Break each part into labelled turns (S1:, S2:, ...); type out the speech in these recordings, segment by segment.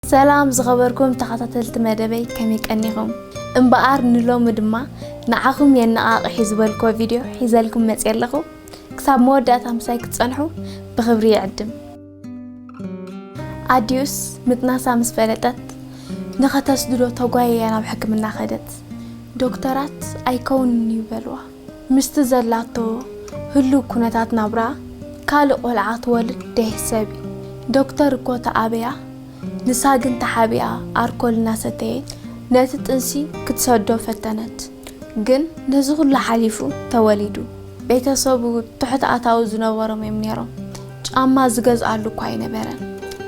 S1: ሰላም ዝኸበርኩም ተኻታተልቲ መደበይ ከመይ ቀኒኹም እምበኣር ንሎሚ ድማ ንዓኹም የነቓቕሕ እዩ ዝበልክዎ ቪድዮ ሒዘልኩም መጽየ ኣለኹ ክሳብ መወዳእታ ምሳይ ክትጸንሑ ብኽብሪ ይዕድም ኣዲኡስ ምጥናሳ ምስ ፈለጠት ንኸተስድዶ ተጓየያ ናብ ሕክምና ከደት ዶክተራት ኣይከውንን እዩ በልዋ ምስቲ ዘላቶ ህሉው ኩነታት ናብራ ካልእ ቆልዓ ትወልድ ደይሕሰብ'ዩ ዶክተር እኮ ተኣበያ ንሳ ግን ተሓቢኣ ኣርኮል እናሰተየት ነቲ ጥንሲ ክትሰዶ ፈተነት ግን ነዚ ኩሉ ሓሊፉ ተወሊዱ ቤተሰቡ ትሑት ኣታዊ ዝነበሮም'ዮም ኔሮም ጫማ ዝገዝኣሉ እኳ ኣይነበረን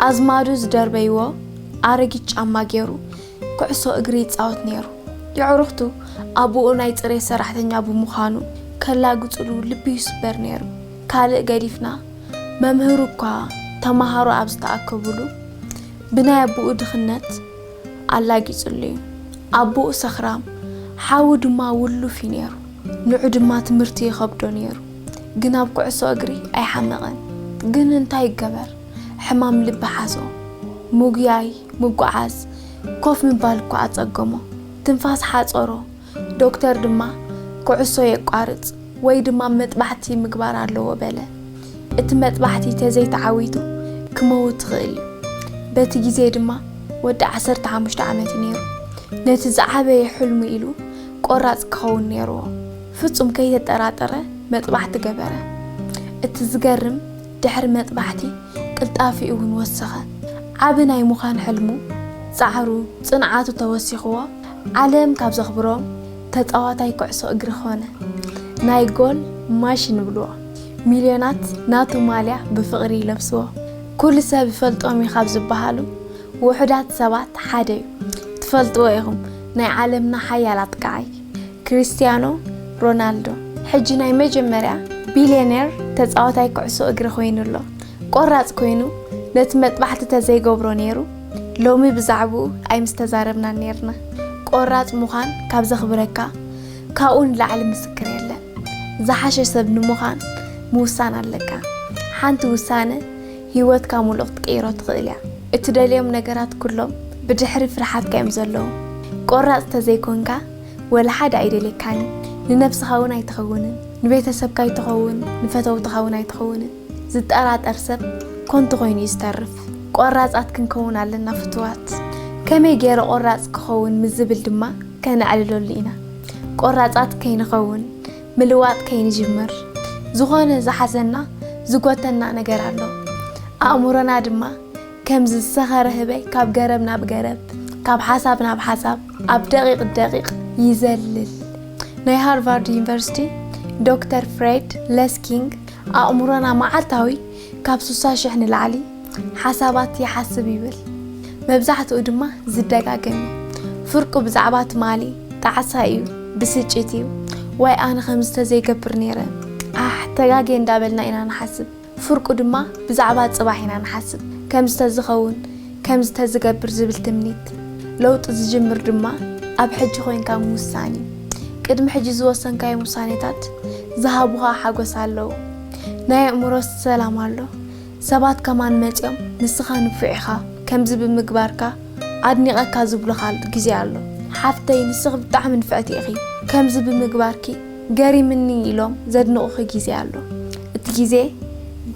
S1: ኣዝማዱ ዝደርበይዎ ኣረጊት ጫማ ጌሩ ኩዕሶ እግሪ ይጻወት ነይሩ። የዕሩኽቱ፣ ኣቡኡ ናይ ጽሬት ሰራሕተኛ ብምዃኑ ከላግጹሉ ልቢ ይስበር ነይሩ። ካልእ ገዲፍና፣ መምህሩ እኳ ተመሃሮ ኣብ ዝተኣከቡሉ ብናይ ኣቡኡ ድኽነት ኣላጊጹሉ'ዩ። ኣቡኡ ሰኽራም፣ ሓዉ ድማ ውሉፍ'ዩ ነይሩ። ንዑ ድማ ትምህርቲ ይኸብዶ ነይሩ። ግን ኣብ ኩዕሶ እግሪ ኣይሓመቐን። ግን እንታይ ይገበር ሕማም ልቢ ሓዞ። ምጉያይ። ምጉዓዝ ኮፍ ምባል እኳ ኣጸገሞ፣ ትንፋስ ሓጸሮ፣ ዶክተር ድማ ኩዕሶ የቋርጽ ወይ ድማ መጥባሕቲ ምግባር ኣለዎ በለ። እቲ መጥባሕቲ ተዘይተዓዊቱ ክመውት ይኽእል እዩ። በቲ ግዜ ድማ ወዲ ዓሰርተ ሓሙሽተ ዓመት እዩ ነይሩ። ነቲ ዝዓበየ ሕልሙ ኢሉ ቆራጽ ክኸውን ነይርዎ። ፍጹም ከይተጠራጠረ መጥባሕቲ ገበረ። እቲ ዝገርም ድሕሪ መጥባሕቲ ቅልጣፊኡ እውን ወሰኸ። ዓቢ ናይ ምዃን ሕልሙ፣ ጻዕሩ፣ ጽንዓቱ ተወሲኽዎ ዓለም ካብ ዘኽብሮም ተጻዋታይ ኩዕሶ እግሪ ኮነ። ናይ ጎል ማሽን ይብልዎ። ሚልዮናት ናቱ ማልያ ብፍቕሪ ይለብስዎ። ኩሉ ሰብ ይፈልጦም እዩ ካብ ዝበሃሉ ውሑዳት ሰባት ሓደ'ዩ። ትፈልጥዎ ኢኹም ናይ ዓለምና ሓያል ኣጥቃዓይ። ክሪስትያኖ ሮናልዶ ሕጂ ናይ መጀመርያ ቢልየነር ተጻዋታይ ኩዕሶ እግሪ ኮይኑ ኣሎ። ቆራጽ ኮይኑ ነቲ መጥባሕቲ ተዘይገብሮ ነይሩ ሎሚ ብዛዕብኡ ኣይምስተዛረብናን ነይርና። ቆራጽ ምዃን ካብ ዘኽብረካ ካብኡ ንላዕሊ ምስክር የለን። ዝሓሸ ሰብ ንምዃን ምውሳን ኣለካ። ሓንቲ ውሳነ ህይወትካ ምሉእ ክትቅይሮ ትኽእል እያ። እትደልዮም ነገራት ኩሎም ብድሕሪ ፍርሓትካ እዮም ዘለዉ። ቆራጽ ተዘይኮንካ ወላ ሓደ ኣይደልየካን እዩ። ንነብስኻ እውን ኣይትኸውንን፣ ንቤተሰብካ ኣይትኸውን፣ ንፈተውትኻ እውን ኣይትኸውንን። ዝጠራጠር ሰብ ኮንቱ ኮይኑ እዩ ዝተርፍ። ቆራጻት ክንከውን ኣለና ፍቱዋት። ከመይ ገይረ ቆራጽ ክኸውን ምስ ዝብል ድማ ከነዕልለሉ ኢና። ቆራጻት ከይንኸውን ምልዋጥ ከይንጅምር ዝኾነ ዝሓዘና ዝጎተና ነገር ኣሎ። ኣእምሮና ድማ ከምዚ ዝሰኸረ ህበይ ካብ ገረብ ናብ ገረብ፣ ካብ ሓሳብ ናብ ሓሳብ ኣብ ደቂቕ ደቂቕ ይዘልል። ናይ ሃርቫርድ ዩኒቨርሲቲ ዶክተር ፍሬድ ለስኪንግ ኣእምሮና መዓልታዊ ካብ ስሳ ሽሕ ንላዕሊ ሓሳባት ይሓስብ ይብል፣ መብዛሕትኡ ድማ ዝደጋገም እዩ። ፍርቁ ብዛዕባ ትማሊ፣ ጣዕሳ እዩ፣ ብስጭት እዩ፣ ዋይ ኣነ ከምዚ ተዘይገብር ነይረ፣ ኣሕ ተጋግየ እንዳበልና ኢና ንሓስብ። ፍርቁ ድማ ብዛዕባ ጽባሕ ኢና ንሓስብ፣ ከምዚ ተዝኸውን፣ ከምዚ ተዝገብር ዝብል ትምኒት። ለውጢ ዝጅምር ድማ ኣብ ሕጂ ኮይንካ ምውሳን እዩ። ቅድሚ ሕጂ ዝወሰንካዮም ውሳኔታት ዝሃቡኻ ሓጎስ ኣለዉ። ናይ ኣእምሮ ሰላም ኣሎ። ሰባት ከማን መጺኦም ንስኻ ንፉዕ ኢኻ ከምዚ ብምግባርካ ኣድኒቐካ ዝብሉኻ ግዜ ኣሎ። ሓፍተይ ንስኺ ብጣዕሚ ንፍዕቲ ኢኺ ከምዚ ብምግባርኪ ገሪምኒ ኢሎም ዘድንቑኺ ግዜ ኣሎ። እቲ ግዜ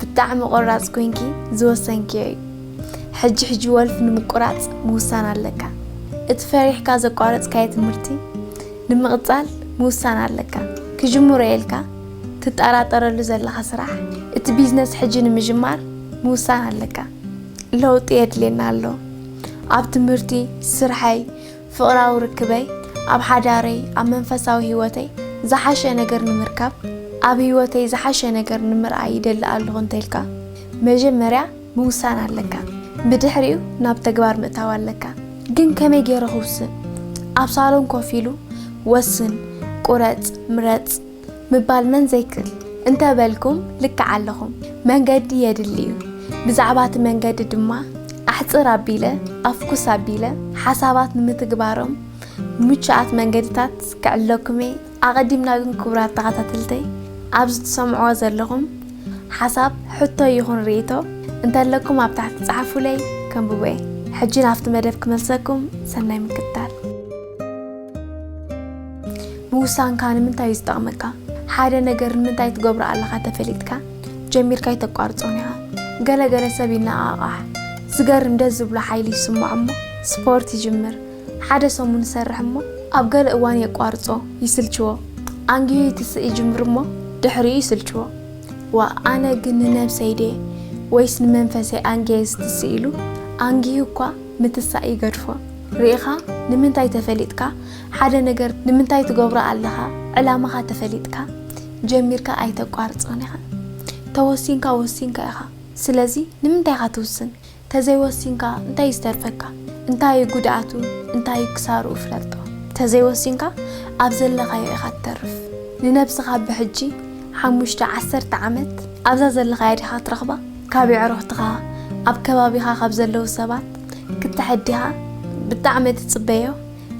S1: ብጣዕሚ ቆራጽ ኮይንኪ ዝወሰንክዮ እዩ። ሕጂ ሕጂ ወልፊ ንምቁራጽ ምውሳን ኣለካ። እቲ ፈሪሕካ ዘቋረጽካዮ ትምህርቲ ንምቕጻል ምውሳን ኣለካ። ክጅምሮ እየ ኢልካ ትጠራጠረሉ ዘለኻ ስራሕ እቲ ቢዝነስ ሕጂ ንምጅማር ምውሳን ኣለካ። ለውጢ የድልየና ኣሎ ኣብ ትምህርቲ፣ ስርሐይ፣ ፍቕራዊ ርክበይ፣ ኣብ ሓዳረይ፣ ኣብ መንፈሳዊ ህይወተይ ዝሓሸ ነገር ንምርካብ ኣብ ህይወተይ ዝሓሸ ነገር ንምርኣይ ይደሊ ኣለኹ እንተልካ መጀመርያ ምውሳን ኣለካ። ብድሕሪኡ ናብ ተግባር ምእታው ኣለካ። ግን ከመይ ገይረ ክውስን? ኣብ ሳሎን ኮፍ ኢሉ ወስን፣ ቁረጽ፣ ምረጽ። ምባል መን ዘይክል እንተ በልኩም ልክዕ ኣለኹም መንገዲ የድሊ እዩ ብዛዕባ እቲ መንገዲ ድማ ኣሕጽር ኣቢለ ኣፍኩስ ኣቢለ ሓሳባት ንምትግባሮም ምቹኣት መንገድታት ክዕለኩም እየ ኣቐዲምና ግን ክቡራት ተኸታተልተይ ኣብዚ ትሰምዕዎ ዘለኹም ሓሳብ ሕቶ ይኹን ርእይቶ እንተለኩም ኣብ ታሕቲ ጸሓፉለይ ከንብቦ እየ ሕጂ ናብቲ መደብ ክመልሰኩም ሰናይ ምክትታል ምውሳንካ ንምንታይ እዩ ዝጠቕመካ? ሓደ ነገር ንምንታይ ትገብሮ ኣለኻ ተፈሊጥካ ጀሚርካ ኣይተቋርጾን ኢኻ። ገለ ገለ ሰብ ይነቓቓሕ፣ ዝገርም ደስ ዝብሎ ሓይሊ ይስምዖ እሞ ስፖርት ይጅምር። ሓደ ሰሙን ይሰርሕ እሞ ኣብ ገለ እዋን የቋርጾ፣ ይስልችዎ። ኣንጊሁ ይትስእ ይጅምር እሞ ድሕሪኡ ይስልችዎ። ዋእ ኣነ ግን ንነብሰይ ድየ ወይስ ንመንፈሰይ ኣንጊየ ዝትስእ ኢሉ ኣንጊሁ እኳ ምትሳእ ይገድፎ። ርኢኻ ንምንታይ ተፈሊጥካ ሓደ ነገር ንምንታይ ትገብሮ ኣለኻ ዕላማኻ ተፈሊጥካ ጀሚርካ ኣይተቋርጾን ኢኻ ተወሲንካ ወሲንካ ኢኻ ስለዚ ንምንታይ ኢኻ ትውስን ተዘይ ወሲንካ እንታይ እዩ ዝተርፈካ እንታይ እዩ ጉድኣቱ እንታይ እዩ ክሳርኡ ፍለጦ ተዘይ ወሲንካ ኣብ ዘለኻዮ ኢኻ ትተርፍ ንነብስኻ ብሕጂ ሓሙሽተ ዓሰርተ ዓመት ኣብዛ ዘለኻያ ዲኻ ትረኽባ ካብ የዕሩኽትኻ ኣብ ከባቢኻ ካብ ዘለዉ ሰባት ክትሕዲኻ ብጣዕሚ ትጽበዮ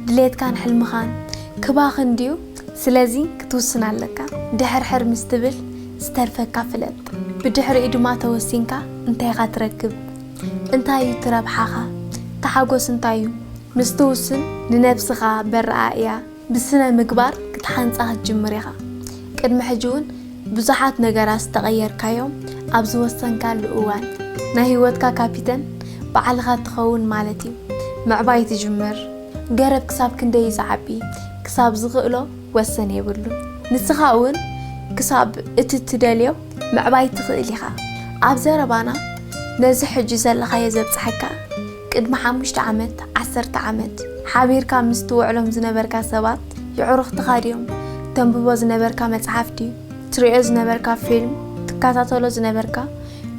S1: ድሌትካን ሕልምኻን ክባኽን ድዩ? ስለዚ ክትውስን ኣለካ። ድሕርሕር ምስ ትብል ዝተርፈካ ፍለጥ። ብድሕሪኡ ድማ ተወሲንካ እንታይ ኢኻ ትረክብ? እንታይ እዩ እቲ ረብሓኻ? ተሓጎስ እንታይ እዩ? ምስ ትውስን ንነብስኻ በረኣእያ ብስነ ምግባር ክትሓንጻ ክትጅምር ኢኻ። ቅድሚ ሕጂ እውን ብዙሓት ነገራት ዝተቐየርካዮም ኣብ ዝወሰንካሉ እዋን፣ ናይ ህይወትካ ካፒተን ባዕልኻ ትኸውን ማለት እዩ። ምዕባይ ትጅምር። ገረብ ክሳብ ክንደይ እዩ ዝዓቢ? ክሳብ ዝኽእሎ ወሰን የብሉን። ንስኻ እውን ክሳብ እቲ እትደልዮ ምዕባይ ትኽእል ኢኻ። ኣብ ዘረባና ነዚ ሕጂ ዘለኻዮ ዘብጽሓካ ቅድሚ ሓሙሽተ ዓመት፣ ዓሰርተ ዓመት፣ ሓቢርካ ምስ ትውዕሎም ዝነበርካ ሰባት፣ የዕሩኽትኻ ድዮም? ተንብቦ ዝነበርካ መጽሓፍ ድዩ? ትርእዮ ዝነበርካ ፊልም፣ ትከታተሎ ዝነበርካ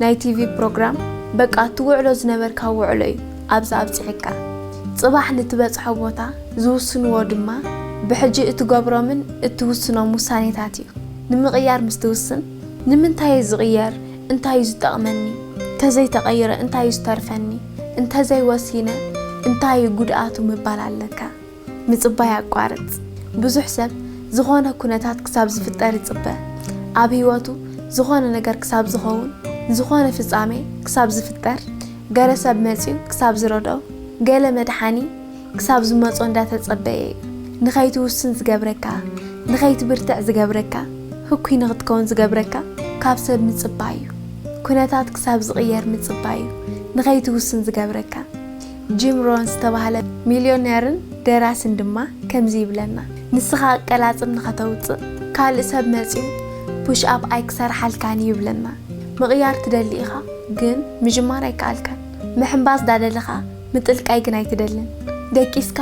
S1: ናይ ቲቪ ፕሮግራም፣ በቃ ትውዕሎ ዝነበርካ ውዕሎ'ዩ ኣብዚ ኣብጺሑካ። ጽባሕ ንትበጽሖ ቦታ ዝውስንዎ ድማ ብሕጂ እትገብሮምን እትውስኖም ውሳኔታት'ዩ። ንምቕያር ምስ ትውስን፣ ንምንታይ'የ ዝቕየር? እንታይ እዩ ዝጠቕመኒ? እንተዘይ ተቐይረ እንታይ እዩ ዝተርፈኒ? እንተዘይ ወሲነ እንታይ እዩ ጉድኣቱ ምባል ኣለካ። ምጽባይ ኣቋርጽ። ብዙሕ ሰብ ዝኾነ ኩነታት ክሳብ ዝፍጠር ይጽበ። ኣብ ህይወቱ ዝኾነ ነገር ክሳብ ዝኸውን፣ ዝኾነ ፍጻሜ ክሳብ ዝፍጠር፣ ገለ ሰብ መጺኡ ክሳብ ዝረድኦ፣ ገለ መድሓኒ፣ ክሳብ ዝመጾ እንዳተጸበየ እዩ ንኸይትውስን ዝገብረካ ንኸይትብርትዕ ዝገብረካ ህኩይ ንኽትከውን ዝገብረካ ካብ ሰብ ምጽባይ እዩ ኩነታት ክሳብ ዝቕየር ምጽባይ እዩ ንኸይትውስን ዝገብረካ ጂም ሮን ዝተባህለ ሚልዮነርን ደራስን ድማ ከምዚ ይብለና ንስኻ ኣቀላጽም ንኸተውጽእ ካልእ ሰብ መጽዩ ፑሽ ኣፕ ኣይክሰርሓልካን እዩ ይብለና ምቕያር ትደሊ ኢኻ ግን ምጅማር ኣይከኣልካን ምሕንባስ ዳደለኻ ምጥልቃይ ግን ኣይትደልን ደቂስካ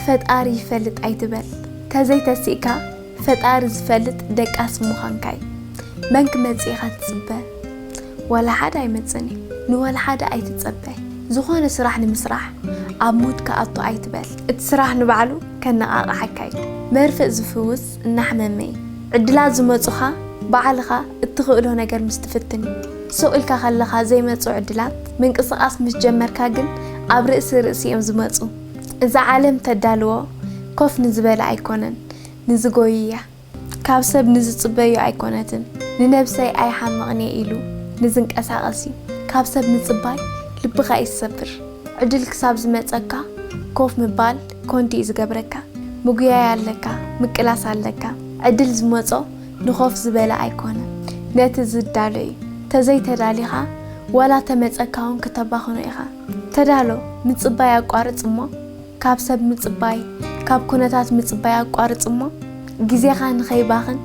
S1: ፈጣሪ ይፈልጥ ኣይትበል ተዘይ ተሲእካ ፈጣሪ ዝፈልጥ ደቃስ ሙኻንካ ዩ መን ክመጽእ ኢኻ ትጽበ ዋላ ሓደ ኣይመጽእን ዩ ንዋላ ሓደ ኣይትጸበ ዝኾነ ስራሕ ንምስራሕ ኣብ ሙድ ክኣቱ ኣይትበል እቲ ስራሕ ንባዕሉ ከነቓቕሓካ ዩ መርፍእ ዝፍውስ እናሕመመይ ዕድላት ዝመጹኻ ባዕልኻ እትኽእሎ ነገር ምስ ትፍትን እዩ። ሱቕ ኢልካ ከለኻ ዘይመጹ ዕድላት፣ ምንቅስቓስ ምስ ጀመርካ ግን ኣብ ርእሲ ርእሲ እዮም ዝመጹ። እዛ ዓለም እተዳልዎ ኮፍ ንዝበለ ኣይኮነን፣ ንዝጎዪ እያ። ካብ ሰብ ንዝጽበዮ ኣይኮነትን፣ ንነብሰይ ኣይሓምቕን እየ ኢሉ ንዝንቀሳቐስ እዩ። ካብ ሰብ ምጽባይ ልብኻ እዩ ዝሰብር። ዕድል ክሳብ ዝመጸካ ኮፍ ምባል ኮንት እዩ ዝገብረካ ምጉያይ ኣለካ ምቅላስ ኣለካ ዕድል ዝመጾ ንኮፍ ዝበለ ኣይኮነ ነቲ ዝዳሎ እዩ ተዘይ ተዳሊካ ዋላ ተመጸካ ውን ክተባክኖ ኢካ ተዳሎ ምጽባይ ኣቋርጽ እሞ ካብ ሰብ ምጽባይ ካብ ኩነታት ምጽባይ ኣቋርጽ እሞ ግዜካ ንከይባክን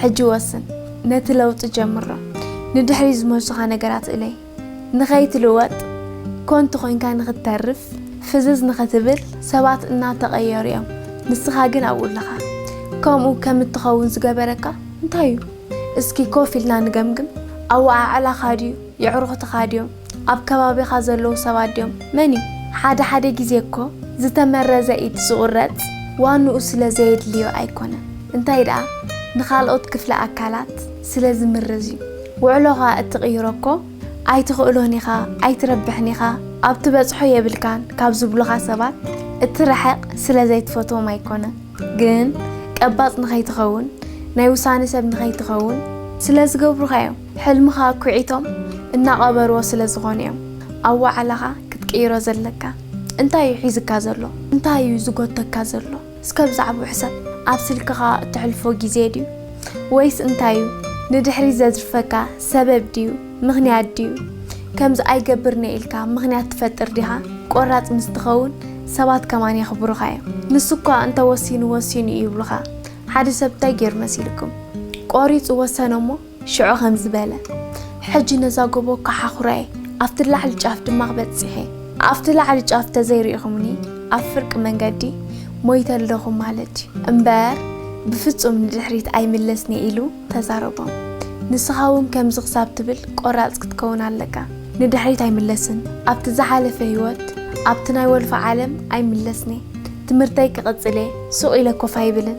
S1: ሕጂ ወስን ነቲ ለውጢ ጀምሮ ንድሕሪት ዝመልሱካ ነገራት እለይ። ንኸይትልወጥ፣ ኮንቱ ኮይንካ ንኽትተርፍ፣ ፍዝዝ ንኽትብል፣ ሰባት እናተቐየሩ እዮም፣ ንስኻ ግን ኣብኡ ኣለኻ። ከምኡ ከም እትኸውን ዝገበረካ እንታይ እዩ? እስኪ ኮፍ ኢልና ንገምግም። ኣወዓዕላኻ ድዩ? የዕሩኽትኻ ድዮም? ኣብ ከባቢኻ ዘለዉ ሰባት ድዮም? መን እዩ? ሓደ ሓደ ግዜ እኮ ዝተመረዘ ኢድ ዝቑረጽ ዋንኡ ስለ ዘየድልዮ ኣይኮነን፣ እንታይ ደኣ ንኻልኦት ክፍለ ኣካላት፣ ስለ ዝምርዝ እዩ ውዕሎኻ እትቕይሮ እኮ ኣይትኽእሎን ኢኻ ኣይትረብሕን ኢኻ ኣብ ትበጽሖ የብልካን ካብ ዝብሉኻ ሰባት እትርሕቕ ስለ ዘይትፈትዎም ኣይኮነ ግን ቀባጽ ንኸይትኸውን ናይ ውሳነ ሰብ ንኸይትኸውን ስለ ዝገብሩኻ እዮም ሕልምኻ ኣኲዒቶም እናቐበርዎ ስለ ዝኾኑ እዮም ኣብ ዋዕላኻ ክትቅይሮ ዘለካ እንታይ እዩ ሒዝካ ዘሎ እንታይ እዩ ዝጎተካ ዘሎ እስከ ብዛዕብኡ ሕሰብ፣ ኣብ ስልክኻ እተሕልፎ ግዜ ድዩ? ወይስ እንታይ እዩ ንድሕሪት ዘዝርፈካ? ሰበብ ድዩ? ምኽንያት ድዩ? ከምዚ ኣይገብርን'የ ኢልካ ምኽንያት ትፈጥር ዲኻ? ቈራጽ ምስ ትኸውን ሰባት ከማን የኽብሩኻ እዮም። ንሱ'ኳ እንተ ወሲኑ ወሲኑ እዩ ይብሉኻ። ሓደ ሰብ እንታይ ገይሩ መሲሉኩም? ቈሪጹ ወሰነ'ሞ፣ ሽዑ ኸምዚ በለ፣ ሕጂ ነዛ ጐቦ ኪሓዅራ'የ፣ ኣብቲ ላዕሊ ጫፍ ድማ ኽበጽሕ'የ። ኣብቲ ላዕሊ ጫፍ እንተ ዘይርኢኹምኒ፣ ኣብ ፍርቂ መንገዲ ሞይተ ኣለኹ ማለት'ዩ። እምበር፣ ብፍጹም ንድሕሪት ኣይምለስን'የ ኢሉ ተዛረቦም። ንስኻ'ውን ከምዚ ኽሳብ ትብል ቈራጽ ክትከውን ኣለካ። ንድሕሪት ኣይምለስን፣ ኣብቲ ዝሓለፈ ህይወት፣ ኣብቲ ናይ ወልፊ ዓለም ኣይምለስን'የ። ትምህርተይ ክቕጽል'የ፣ ሱቕ ኢለ ኰፍ ኣይብልን፣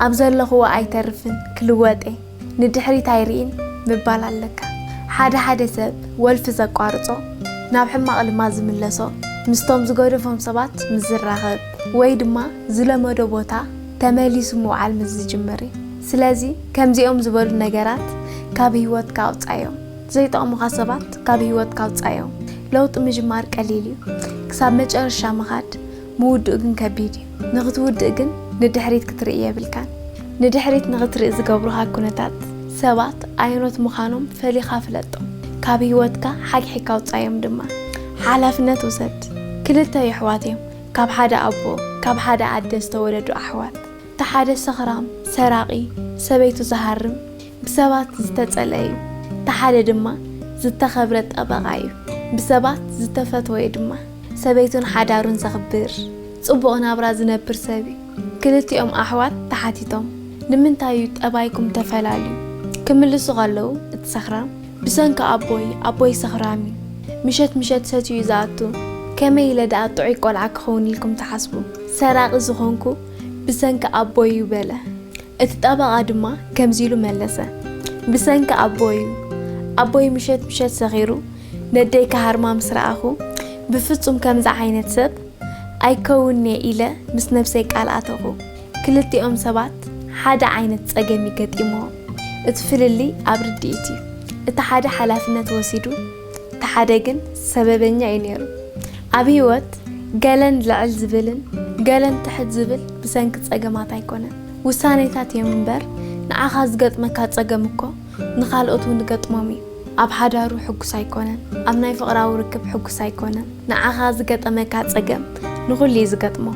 S1: ኣብ ዘለኹዎ ኣይተርፍን፣ ክልወጥ'የ። ንድሕሪት ኣይሪኢን ምባል ኣለካ። ሓደ ሓደ ሰብ ወልፊ ዘቋርጾ ናብ ሕማቕ ልማድ ዝምለሶ ምስቶም ዝገደፎም ሰባት ምስ ዝራኸብ ወይ ድማ ዝለመዶ ቦታ ተመሊሱ ምውዓል ምስ ዝጅምር እዩ። ስለዚ ከምዚኦም ዝበሉ ነገራት ካብ ህይወትካ ኣውጻዮም። ዘይጠቕሙኻ ሰባት ካብ ህይወትካ ኣውጻዮም። ለውጢ ምጅማር ቀሊል እዩ። ክሳብ መጨረሻ ምኻድ ምውድኡ ግን ከቢድ እዩ። ንኽትውድእ ግን ንድሕሪት ክትርኢ የብልካን። ንድሕሪት ንኽትርኢ ዝገብሩኻ ኩነታት፣ ሰባት ኣየኖት ምዃኖም ፈሊኻ ፍለጦም። ካብ ህይወትካ ሓግሒግካ ኣውጽኣዮም ድማ። ሓላፍነት ውሰድ። ክልተ የሕዋት እዮም፣ ካብ ሓደ ኣቦ ካብ ሓደ ኣደ ዝተወለዱ ኣሕዋት። እቲ ሓደ ሰኽራም፣ ሰራቒ፣ ሰበይቱ ዝሃርም፣ ብሰባት ዝተጸልአ እዩ። እቲ ሓደ ድማ ዝተኸብረ ጠበቓ እዩ፣ ብሰባት ዝተፈተወ እዩ ድማ። ሰበይቱን ሓዳሩን ዘኽብር። ጽቡቕ ናብራ ዝነብር ሰብ እዩ። ክልቲኦም ኣሕዋት ተሓቲቶም ንምንታይ እዩ ጠባይኩም ተፈላልዩ? ክምልሱ ከለዉ እቲ ሰኽራም ብሰንኪ ኣቦይ፣ ኣቦይ ሰኽራም እዩ፣ ምሸት ምሸት ሰትዩ እዩ ዝኣቱ፣ ከመይ ኢለ ደኣ ጥዑይ ቆልዓ ክኸውን ኢልኩም ትሓስቡ? ሰራቒ ዝኾንኩ ብሰንኪ ኣቦይ እዩ በለ። እቲ ጠበቓ ድማ ከምዚ ኢሉ መለሰ፣ ብሰንኪ ኣቦይ እዩ፣ ኣቦይ ምሸት ምሸት ሰኺሩ ነደይ ክሃርማ ምስ ረኣኹ፣ ብፍጹም ከምዚ ዓይነት ሰብ ኣይከውንን'የ ኢለ ምስ ነብሰይ ቃል ኣተኹ። ክልቲኦም ሰባት ሓደ ዓይነት ጸገም'ዩ ገጢምዎም። እቲ ፍልልይ ኣብ ርድኢት'ዩ። እቲ ሓደ ሓላፍነት ወሲዱ፣ እቲ ሓደ ግን ሰበበኛ'ዩ ነይሩ። ኣብ ህይወት ገለን ልዕል ዝብልን ገለን ትሕት ዝብል ብሰንኪ ጸገማት ኣይኮነን። ውሳኔታት'ዮም እምበር ንዓኻ ዝገጥመካ ጸገም'ኮ፣ ንኻልኦት እውን ይገጥሞም እዩ። ኣብ ሓዳሩ ሕጉስ ኣይኮነን፣ ኣብ ናይ ፍቕራዊ ርክብ ሕጉስ ኣይኮነን። ንዓኻ ዝገጠመካ ጸገም ንኹሉ እዩ ዝገጥሞ።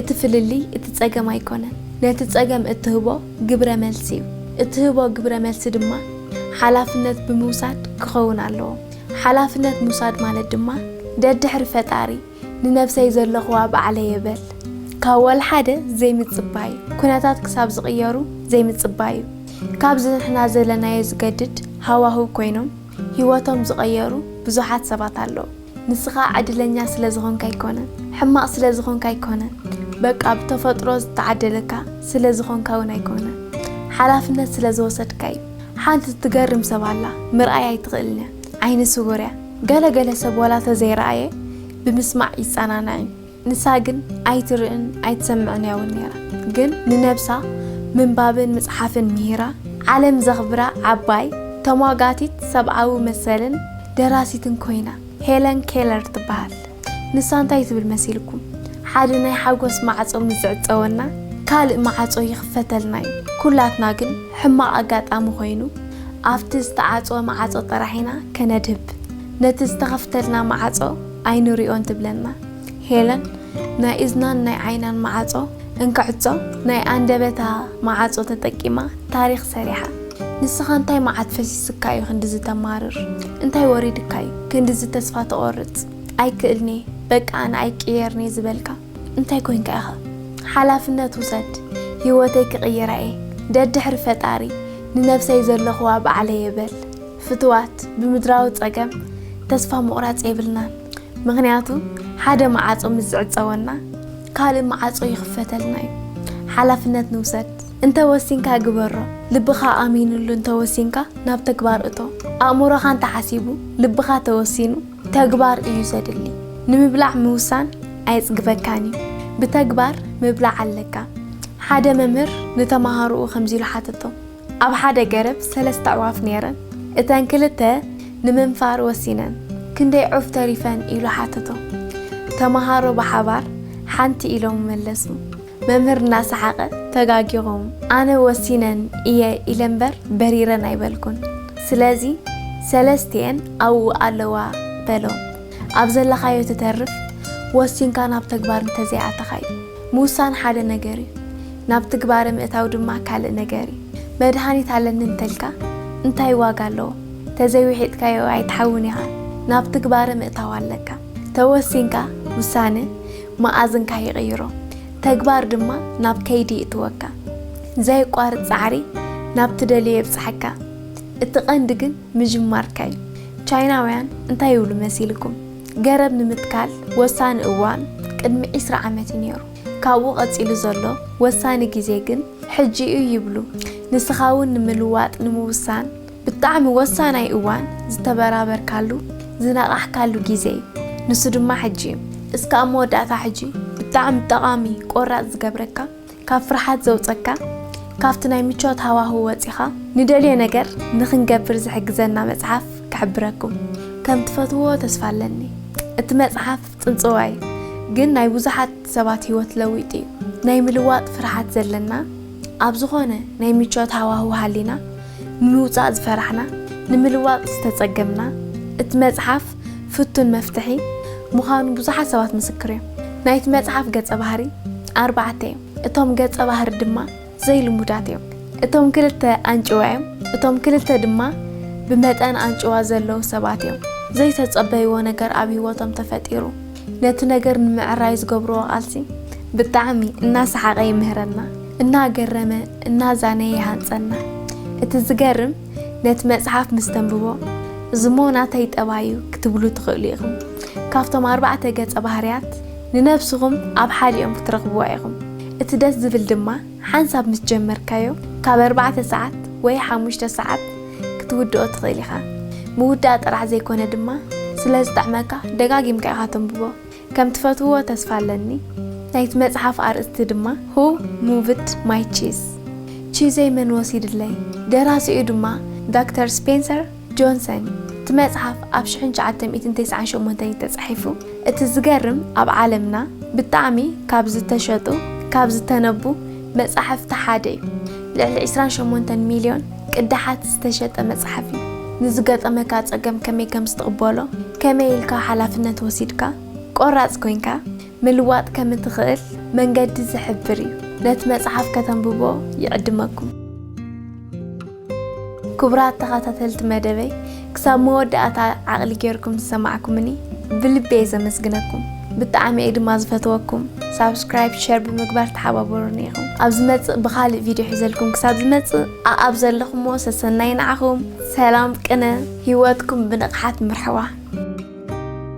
S1: እቲ ፍልልይ እቲ ጸገም ኣይኮነን፣ ነቲ ጸገም እትህቦ ግብረ መልሲ እዩ። እትህቦ ግብረ መልሲ ድማ ሓላፍነት ብምውሳድ ክኸውን ኣለዎ። ሓላፍነት ምውሳድ ማለት ድማ ደድሕሪ ፈጣሪ፣ ንነብሰይ ዘለኹዋ ባዕለየ በል። ካብ ወልሓደ ዘይምጽባይ፣ ኩነታት ክሳብ ዝቕየሩ ዘይምጽባዩ። ካብዚ ንሕና ዘለናዮ ዝገድድ ሃዋህው ኮይኖም ሂወቶም ዝቐየሩ ብዙሓት ሰባት ኣለዉ። ንስኻ ዕድለኛ ስለ ዝኾንካ ኣይኮነን፣ ሕማቕ ስለ ዝኾንካ ኣይኮነን፣ በቃ ብተፈጥሮ ዝተዓደለካ ስለ ዝኾንካ ውን ኣይኮነን፣ ሓላፍነት ስለ ዝወሰድካዩ። ሓንቲ ትገርም ሰብ ኣላ ምርኣይ ኣይትኽእልንያ ዓይኒ ስውርያ። ገለ ገለ ሰብ ዋላ ተዘይረኣየ ብምስማዕ ይጸናናዕ እዩ ንሳ ግን ኣይትርእን ኣይትሰምዕን እያ ውን ነይራ ግን ንነብሳ ምንባብን ምጽሓፍን ምሂራ ዓለም ዘኽብራ ዓባይ ተሟጋቲት ሰብኣዊ መሰልን ደራሲትን ኮይና ሄለን ኬለር ትበሃል። ንሳ እንታይ ትብል መሲልኩም? ሓደ ናይ ሓጎስ ማዕጾ ምስ ዝዕጸወና ካልእ ማዓጾ ይኽፈተልና እዩ። ኩላትና ግን ሕማቕ ኣጋጣሚ ኮይኑ ኣብቲ ዝተዓጽወ ማዓጾ ጥራሕ ኢና ከነድህብ ነቲ ዝተኸፍተልና ማዓጾ ኣይንሪኦን ትብለና ሄለን ናይ እዝናን ናይ ዓይናን ማዓጾ እንክዕጾ ናይ ኣንደበታ ማዓጾ ተጠቂማ ታሪኽ ሰሪሓ። ንስኻ እንታይ ማዓት ፈሲስካ እዩ ክንድዚ ተማርር እንታይ ወሪድካ እዩ? ክንድዚ ተስፋ ትቆርጽ ኣይክእልንየ በቃ ኣነ ኣይቅየርንየ ዝበልካ እንታይ ኮይንካ ኢካ ሓላፍነት ውሰድ ሂወተይ ክቅይራ እየ ደድሕሪ ፈጣሪ ንነብሰይ ዘለክዋ ባዕለየ በል ፍትዋት ብምድራዊ ጸገም ተስፋ ምቁራጽ የብልናን ምክንያቱ ሓደ ማዓጾ ምስ ዝዕጸወና ካልእ መዓጾ ይኽፈተልና እዩ ሓላፍነት ንውሰድ እንተ ወሲንካ ግበሮ ልብኻ ኣሚንሉ እንተ ወሲንካ ናብ ተግባር እቶ ኣእምሮኻ እንተ ሓሲቡ ልብኻ ተወሲኑ ተግባር እዩ ዘድሊ ንምብላዕ ምውሳን ኣየጽግበካን እዩ ብተግባር ምብላዕ ኣለካ ሓደ መምህር ንተማሃሮኡ ከምዚ ኢሉ ሓተቶም ኣብ ሓደ ገረብ ሰለስተ ኣዕዋፍ ነይረን። እተን ክልተ ንምንፋር ወሲነን፣ ክንደይ ዑፍ ተሪፈን? ኢሉ ሓተቶም። ተመሃሮ ብሓባር ሓንቲ ኢሎም መለሱ። መምህር እናሰሓቐ፣ ተጋጊኹም፣ ኣነ ወሲነን እየ ኢለ እምበር በሪረን ኣይበልኩን። ስለዚ ሰለስቲኤን ኣብኡ ኣለዋ በሎም። ኣብ ዘለኻዮ ትተርፍ፣ ወሲንካ ናብ ተግባር እንተዘይኣተኻዮ። ምውሳን ሓደ ነገር እዩ፣ ናብ ትግባረ ምእታው ድማ ካልእ ነገር እዩ። መድሃኒት ኣለኒ እንተልካ እንታይ ዋጋ ኣለዎ? ተዘይውሒጥካዮ ኣይትሓውን ኢኻ፣ ናብ ትግባረ ምእታው ኣለካ። ተወሲንካ ውሳነ መኣዝንካ ይቕይሮ፣ ተግባር ድማ ናብ ከይዲ ይእትወካ። ዘየቋርጽ ጻዕሪ ናብ ትደልዮ የብጽሓካ። እቲ ቀንዲ ግን ምጅማርካ እዩ። ቻይናውያን እንታይ ይብሉ መሲልኩም? ገረብ ንምትካል ወሳኒ እዋን ቅድሚ ዕስራ ዓመት እዩ ነይሩ። ካብኡ ቀጺሉ ዘሎ ወሳኒ ግዜ ግን ሕጂ'ዩ ይብሉ። ንስኻ'ውን ንምልዋጥ ንምውሳን ብጣዕሚ ወሳናይ እዋን ዝተበራበርካሉ፣ ዝነቓሕካሉ ግዜ'ዩ። ንሱ ድማ ሕጂ'ዩ። እስከ ኣብ መወዳእታ ሕጂ ብጣዕሚ ጠቓሚ ቆራጽ ዝገብረካ፣ ካብ ፍርሓት ዘውጸካ ካብቲ ናይ ምቾት ሃዋሁ ወጺኻ ንደልዮ ነገር ንኽንገብር ዝሕግዘና መጽሓፍ ክሕብረኩም ከም ትፈትውዎ ተስፋ ኣለኒ እቲ መጽሓፍ ጽንጽዋይ ግን ናይ ብዙሓት ሰባት ሂወት ለዊጡ ዩ ናይ ምልዋጥ ፍርሓት ዘለና ኣብ ዝኾነ ናይ ምቾት ሃዋሁ ሃሊና ንምውጻእ ዝፈራሕና ንምልዋጥ ዝተጸገምና እቲ መጽሓፍ ፍቱን መፍትሒ ምዃኑ ብዙሓት ሰባት ምስክር እዮም። ናይቲ መጽሓፍ ገጸ ባህሪ ኣርባዕተ እዮም፣ እቶም ገጸ ባህሪ ድማ ዘይልሙዳት እዮም። እቶም ክልተ ኣንጭዋ እዮም፣ እቶም ክልተ ድማ ብመጠን ኣንጭዋ ዘለዉ ሰባት እዮም። ዘይተጸበይዎ ነገር ኣብ ህይወቶም ተፈጢሩ። ነቲ ነገር ንምዕራይ ዝገብርዎ ቃልሲ ብጣዕሚ እናሰሓቐ ይምህረና፣ እናገረመ እናዛነየ ይሃንጸና። እቲ ዝገርም ነቲ መጽሓፍ ምስ ተንብቦ እዚ እሞ ናተይ ጠባይ እዩ ክትብሉ ትኽእሉ ኢኹም። ካብቶም ኣርባዕተ ገጸ ባህርያት ንነብስኹም ኣብ ሓዲኦም ክትረኽብዋ ኢኹም። እቲ ደስ ዝብል ድማ ሓንሳብ ምስ ጀመርካዮ ካብ ኣርባዕተ ሰዓት ወይ ሓሙሽተ ሰዓት ክትውድኦ ትኽእል ኢኻ። ምውዳእ ጥራሕ ዘይኮነ ድማ ስለ ዝጥዕመካ ደጋጊምካ ኢኻ ተንብቦ። ከም ትፈትውዎ ተስፋ ኣለኒ ናይቲ መጽሓፍ ኣርእስቲ ድማ Who Moved My Cheese ቺዘይ መን ወሲድለይ ደራሲኡ ድማ ዳክተር ስፔንሰር ጆንሰን እዩ እቲ መጽሓፍ ኣብ ሽሕን ትሽዓተ ሚእትን ተስዓን ሸሞንተን እዩ ተጻሒፉ እቲ ዝገርም ኣብ ዓለምና ብጣዕሚ ካብ ዝተሸጡ ካብ ዝተነቡ መጻሕፍቲ ሓደ እዩ። ልዕሊ ዕስራን ሸሞንተን ሚልዮን ቅዳሓት ዝተሸጠ መጽሓፍ እዩ። ንዝገጠመካ ጸገም ከመይ ከም ዝትቕበሎ፣ ከመይ ኢልካ ሓላፍነት ወሲድካ፣ ቆራጽ ኮይንካ፣ ምልዋጥ ከም እትኽእል መንገዲ ዝሕብር እዩ። ነቲ መጽሓፍ ከተንብቦ ይዕድመኩም። ክቡራት ተኻታተልቲ መደበይ ክሳብ መወዳእታ ዓቕሊ ጌርኩም ዝሰማዕኩምኒ ብልቢ እየ ዘመስግነኩም ብጣዕሚ እየ ድማ ዝፈትወኩም ሳብስክራይብ ሸር ብምግባር ተሓባበሩኒ ኢኹም ኣብ ዝመፅእ ብኻሊእ ቪድዮ ሒዘልኩም ክሳብ ዝመፅእ ኣኣብ ዘለኹምዎ ሰሰናይ ንዓኹም ሰላም ቅነ ሂወትኩም ብንቕሓት ምርሕዋ